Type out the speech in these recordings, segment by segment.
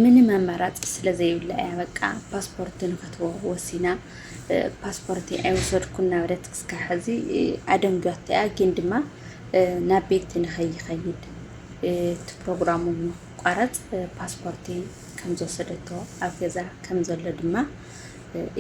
ምንም ኣማራፂ ስለዘይብላ እያ በቃ ፓስፖርት ንክትቦ ወሲና ፓስፖርት ኣይወሰድኩ እናበለት ክስካ ሕዚ ኣደንጊያቶ እያ ግን ድማ ናብ ቤት ንከይኸይድ እቲ ፕሮግራሙ ንክቋረፅ ፓስፖርቲ ከም ዝወሰደቶ ኣብ ገዛ ከም ዘሎ ድማ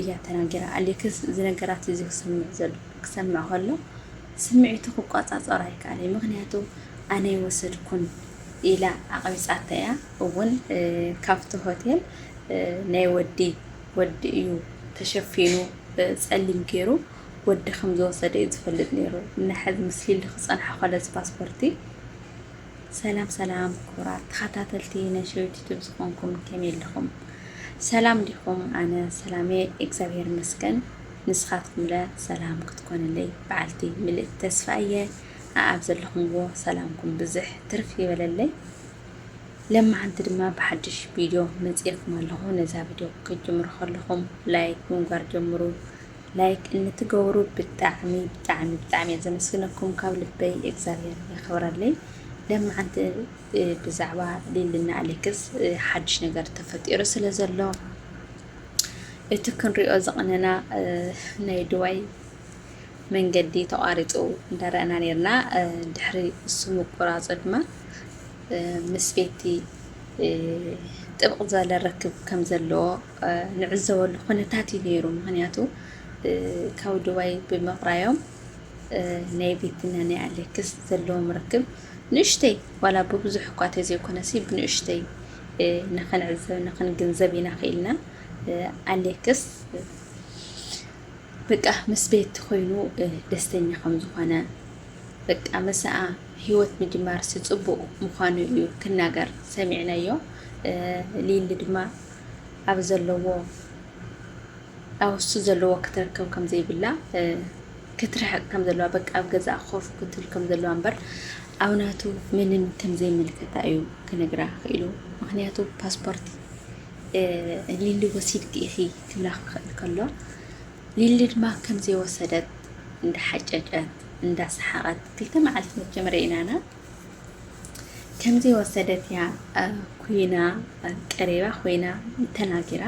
እያ ተናጊራ። ኣሌክስ እዚ ነገራት እዚ ክሰምዕ ዘሎ ክሰምዕ ከሎ ስምዒቱ ክቆፃፀሮ ኣይከኣለይ። ምክንያቱ ኣነ ይወሰድኩን ኢላ ኣቕቢጻታ ኢያ እውን ካብቲ ሆቴል ናይ ወዲ ወዲ እዩ ተሸፊኑ ጸሊም ጌሩ ወዲ ከም ዝወሰደ እዩ ዝፈልጥ ኔሩ ንሐዚ ምስ ሊሊ ክጸንሖ ከሎ እዚ ፓስፖርቲ ሰላም ሰላም ክቡራት ተኸታተልቲ ናይ ሸዊት ዩቱብ ዝኾንኩም ከመይ ኣለኹም ሰላም ዲኹም ኣነ ሰላሜ እግዚኣብሔር ይመስገን ንስኻትኩምለ ሰላም ክትኮንለይ በዓልቲ ምልእቲ ተስፋ እየ ኣኣብ ዘለኹምዎ ሰላምኩም ብዝሕ ትርፍ ይበለለይ ለማዓንቲ ድማ ብሓድሽ ቪድዮ መጺኤኩም ኣለኹ ነዛ ቪድዮ ክትጅምሩ ከለኹም ላይክ ብምግባር ጀምሩ ላይክ እንትገብሩ ብጣዕሚ ብጣዕሚ ብጣዕሚ እየ ዘመስግነኩም ካብ ልበይ እግዚኣብሔር የኽብረለይ ለማዓንቲ ብዛዕባ ሊልና ኣሌክስ ሓድሽ ነገር ተፈጢሩ ስለ ዘሎ እቲ ክንሪኦ ዝቕነና ናይ ድዋይ መንገዲ ተቋሪፁ እንዳረኣና ነይርና። ድሕሪ እሱ ምቁራፁ ድማ ምስ ቤቲ ጥብቕ ዝበለ ርክብ ከም ዘለዎ ንዕዘበሉ ኩነታት እዩ ነይሩ። ምክንያቱ ካብ ዱባይ ብምቕራዮም ናይ ቤትና ናይ ኣሌክስ ዘለዎም ርክብ ንእሽተይ ዋላ ብብዙሕ እኳ ተዘይኮነሲ ብንእሽተይ ንክንዕዘብ ንክንግንዘብ ኢና ክኢልና ኣሌክስ በቃ ምስ ቤቲ ኮይኑ ደስተኛ ከም ዝኾነ በቃ ምሳኣ ሂወት ምጅማርሲ ጽቡቅ ምዃኑ እዩ ክናገር ሰሚዕናዮ ሊሊ ድማ ኣብ ዘለዎ ኣብሱ ዘለዎ ክትረከብ ከም ዘይብላ ክትርሕቅ ከም ዘለዋ በቃ ኣብ ገዛኣ ኮፍ ክትብል ከም ዘለዋ እምበር ኣብ ናቱ ምንም ከም ዘይምልከታ እዩ ክነግራ ክኢሉ ምክንያቱ ፓስፖርት ሊሊ ወሲድኪ ኢኺ ክብላ ክኽእል ከሎ ሊሊ ድማ ከም ዘይወሰደት እንዳሓጨጨት እንዳሰሓቐት ክልተ መዓልቲ መቸም ርኢናና ከም ዘይወሰደት እያ ኩይና ቀሪባ ኮይና ተናጊራ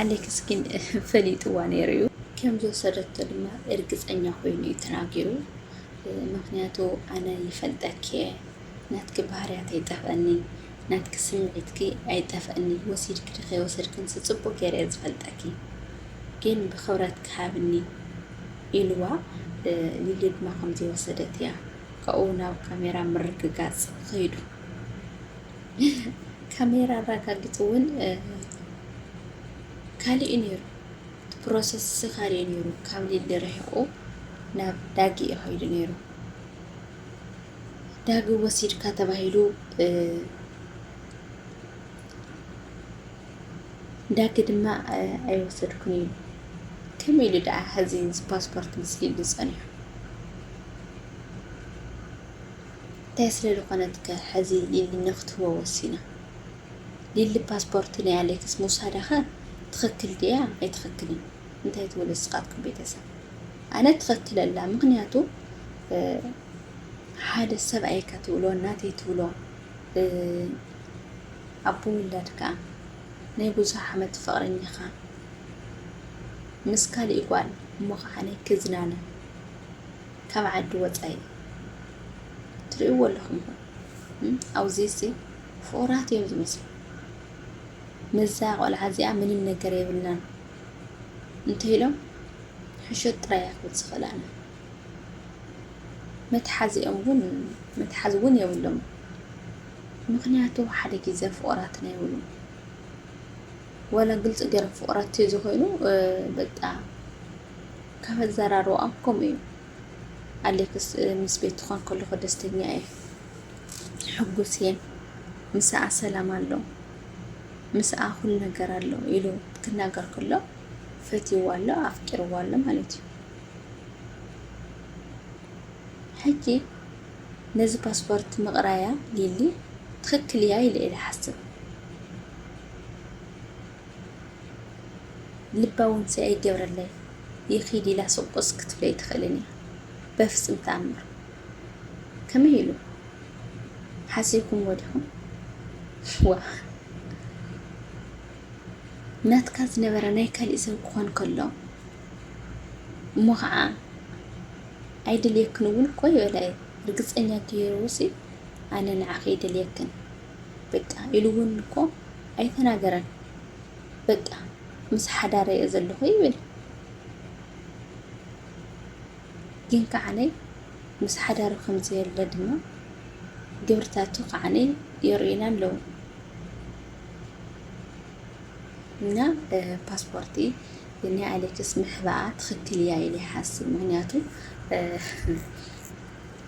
ኣሌክስ ግን ፈሊጥዋ ነይሩ እዩ። ከም ዝወሰደቶ ድማ እርግፀኛ ኮይኑ እዩ ተናጊሩ። ምክንያቱ ኣነ ይፈልጠኪ እየ ናትኪ ባህርያት ኣይጠፍአኒ ናትኪ ስምዒትኪ ኣይጠፈእኒ ወሲድኪ ዶ ከይወሰድክንስ ጽቡቅ ጌረ እየ ዝፈልጠኪ ግን ብክብረትኪ ሃብኒ ኢልዋ ሊሊ ድማ ከምዚ ወሰደት እያ ካብኡ ናብ ካሜራ ምርግጋጽ ከይዱ ካሜራ ኣራጋጊጹ ውን ካልእ እዩ ነይሩ እቲ ፕሮሰስ ካልእ እዩ ነይሩ ካብ ሊሊ ርሒቁ ናብ ዳጊ እዩ ከይዱ ነይሩ ዳግም ወሲድካ ተባሂሉ ዳጊ ድማ ኣይወሰድኩን ኢሉ ከመይ ኢሉ ደኣ ሕዚ ፓስፖርት ምስሊሉ ዝፀኒሑ እንታይ ስለ ዝኾነት ከ ሕዚ ሊሊ ንክትህቦ ወሲና ሊሊ ፓስፖርት ናይ ኣሌክስ ምውሳዳኸ ትኽክል ድያ ኣይትኽክልን እንታይ ትብሉ ስኻትኩም ቤተሰብ ኣነ ትኸትለላ ምክንያቱ ሓደ ሰብኣይ ከትብሎ ናተይ ትብሎ ኣቦ ውላድካ ናይ ብዙሕ ዓመት ፍቕረኛኻ ምስ ካሊእ ጓል እሞ ከዓ ናይ ክዝናነ ካብ ዓዲ ወፃኢ ትርእይዎ ኣለኹም ኹ ኣብዚ ሲ ፍቑራት እዮም ዝመስሉ ምዛ ቆልዓ እዚኣ ምንም ነገር የብልናን እንተይሎም ሕሾት ጥራይ እያ ክትብል ዝኽእል ኣነ መትሓዚኦም ውን መትሓዚ ውን የብሎም ምክንያቱ ሓደ ግዜ ፍቑራትና ይብሉ ወላ ግልፂ ገይሮም ፍቑራት ተዘኮይኑ በቃ ካብ ኣዘራርባኦም ከምኡ እዩ ኣሌክስ ምስ ቤት ትኾን ከለኹ ደስተኛ እየ ሕጉስ እየ ምሳኣ ሰላም ኣሎ ምስኣ ኩሉ ነገር ኣሎ ኢሉ ክናገር ከሎ ፈትይዋ ኣሎ ኣፍቂርዋ ኣሎ ማለት እዩ። ሕጂ ነዚ ፓስፖርት ምቕራያ ሊሊ ትኽክል እያ ኢለ ኢለ ሓስብ ልባ እውን ኣይገብረለይ ይኺድ ኢላ ሱቁስ ክትብለይ ትኽእልን እያ በፍጽም ተኣምር ከመይ ኢሉ ሓሲብኩምዎ ዲኹም? ዋእ! ናትካ ዝነበረ ናይ ካሊእ ሰብ ክኾን ከሎ እሞ ከዓ ኣይደልየክን እውን እኮ ይበላየ ርግፀኛ ገይሩ ውፂ ኣነ ንዓኺ ይደልየክን በቃ ኢሉ እውን እኮ ኣይተናገረን። በቃ ምስ ሓዳረ እየ ዘለኹ ይብል ግን ከዓ ምስ ሓዳሩ ከም ዘየለ ድማ ግብርታቱ ከዓኒ የርእዩና ኣለዉ። እና ፓስፖርቲ ናይ ኣሌክስ ምሕባኣ ትኽክል እያ ኢለ ይሓስብ ምክንያቱ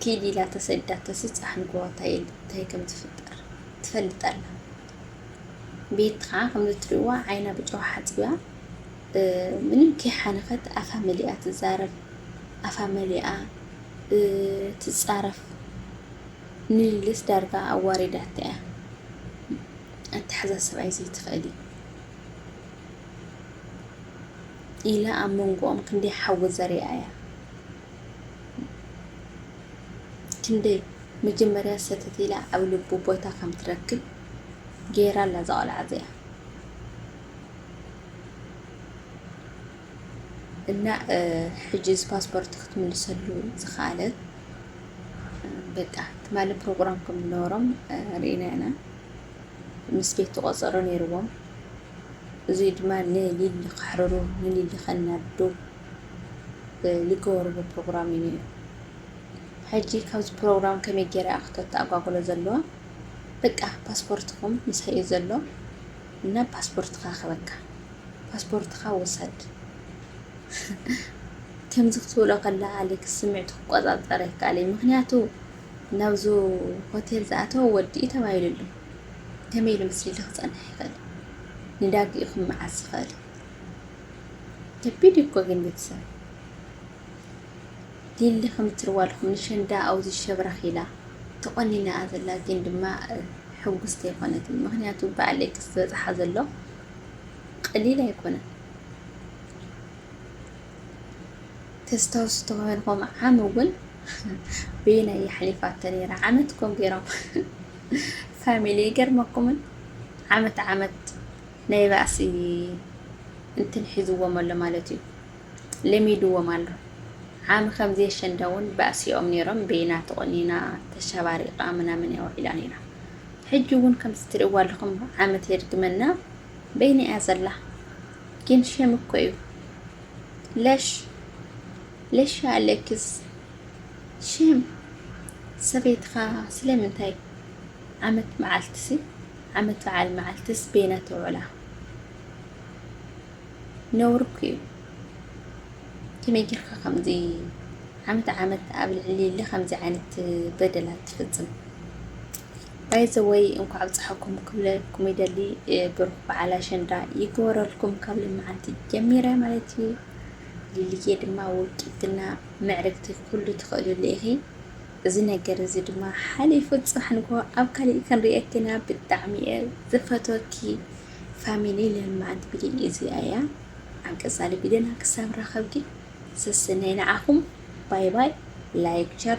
ኪድ ኢላ ተሰዳ ተስፃሕ ንጎ እንታይ ከም ዝፍጠር ትፈልጥ ኣላ ቤት ከዓ ከም እትሪእዋ ዓይና ብጨው ሓፂባ ምንም ከይሓነኸት ኣፋ መሊኣ ትዛረብ ኣፋ መሊኣ ትጻረፍ ንሊልስ ዳርጋ ኣዋሪዳታ እያ ኣተሓዛ ሰብኣይ ዘይትኽእል እዩ ኢላ ኣብ መንጎኦም ክንደይ ሓዊ ዘሪኣ እያ ክንደይ መጀመርያ ሰተት ኢላ ኣብ ልቡ ቦታ ከም ትረክብ ገይራ ኣላ እዛ ቆልዓ እዚኣ እና ሕጂ እዚ ፓስፖርት ክትምልሰሉ ዝኸኣለት በቃ ትማሊ ፕሮግራም ከም ዝነበሮም ርኢና ኢና ምስ ቤት ተቆፀሮ ነይርዎም እዚ ድማ ንሊሊ ከሕርሩ ንሊሊ ከናዱ ዝገበርዎ ፕሮግራም እዩ ነይሩ ሕጂ ካብዚ ፕሮግራም ከመይ ገይራ ክትተኣጓጉሎ ዘለዋ በቃ ፓስፖርትኩም ምሳይ እዩ ዘሎ እና ፓስፖርትካ ክህበካ ፓስፖርትካ ውሰድ ከምዚ ክትብሎ ከላ ኣሌክስ ስምዒቱ ክቆጻጸር ኣይከኣለይ ምክንያቱ ናብዚ ሆቴል ዝኣተወ ወዲ እዩ ተባሂሉ ኣሎ ከመይ ኢሉ ምስሊሉ ክጸንሕ ይኽእል ንዳጊኡ ክመዓዝ ዝኽእል ከቢድ እኮ ግን ቤተሰብ ሊሊ ከም እትርዋ ኣለኹም ንሸንዳ ኣብዚ ሸብረኽ ኢላ ተቆኒና እያ ዘላ ግን ድማ ሕጉስቲ ኣይኮነትን ምክንያቱ በዓል ሌክስ ዝበፅሓ ዘሎ ቀሊል ኣይኮነን ተስታውሱ ተኮይንኩም ዓም እውን በየናይ የሕሊፋቶ ነይራ ዓመት ኮም ገይሮም ፋሚሊ ይገርመኩምን ዓመት ዓመት ናይ ባእሲ እንትን ሒዝዎም ኣሎ ማለት እዩ ለሚድዎም ኣሎ ዓሚ ከምዚ ኣሸንዳ ውን ባእሲኦም ኔሮም በይና ተቆኒና ተሻባሪቃ ምናምን እያ ውዒላ ኔራ ሕጂ ውን ከምዚ ትሪእዋ ኣለኹም ዓመት የድግመና በይና እያ ዘላ ግን ሸም እኮ እዩ ለሽ ለሽ ኣለኪስ ሸም ሰበይትኻ ስለምንታይ ዓመት መዓልትሲ ዓመት በዓል መዓልትስ በይና ትውዕላ ነውሪ እኮ እዩ ከመይ ጌርካ ከምዚ ዓመት ዓመት ኣብ ልዕሊ ከምዚ ዓይነት በደላት ትፍጽም ባይዘወይ እንኳዕ ኣብፀሓኩም ክብለኩም ይደሊ ብሩክ በዓል ኣሸንዳ ይግበረልኩም ካብ ልምዓንቲ ጀሚረ ማለት እዩ ልልየ ድማ ውልቂትና ምዕርግቲ ኩሉ ትኽእልሉ ኢኺ እዚ ነገር እዚ ድማ ሓሊፉ ፅባሕ ንግሆ ኣብ ካሊእ ክንሪኤኪና ብጣዕሚ እየ ዝፈትወኪ ፋሚሊ ለማኣንቲ ቪድዮ እዚኣ እያ ኣብ ቀጻሊ ቪድዮና ክሳብ ንራኸብ ግን ሰስነይ ንዓኹም ባይ ባይ ላይክ ቸር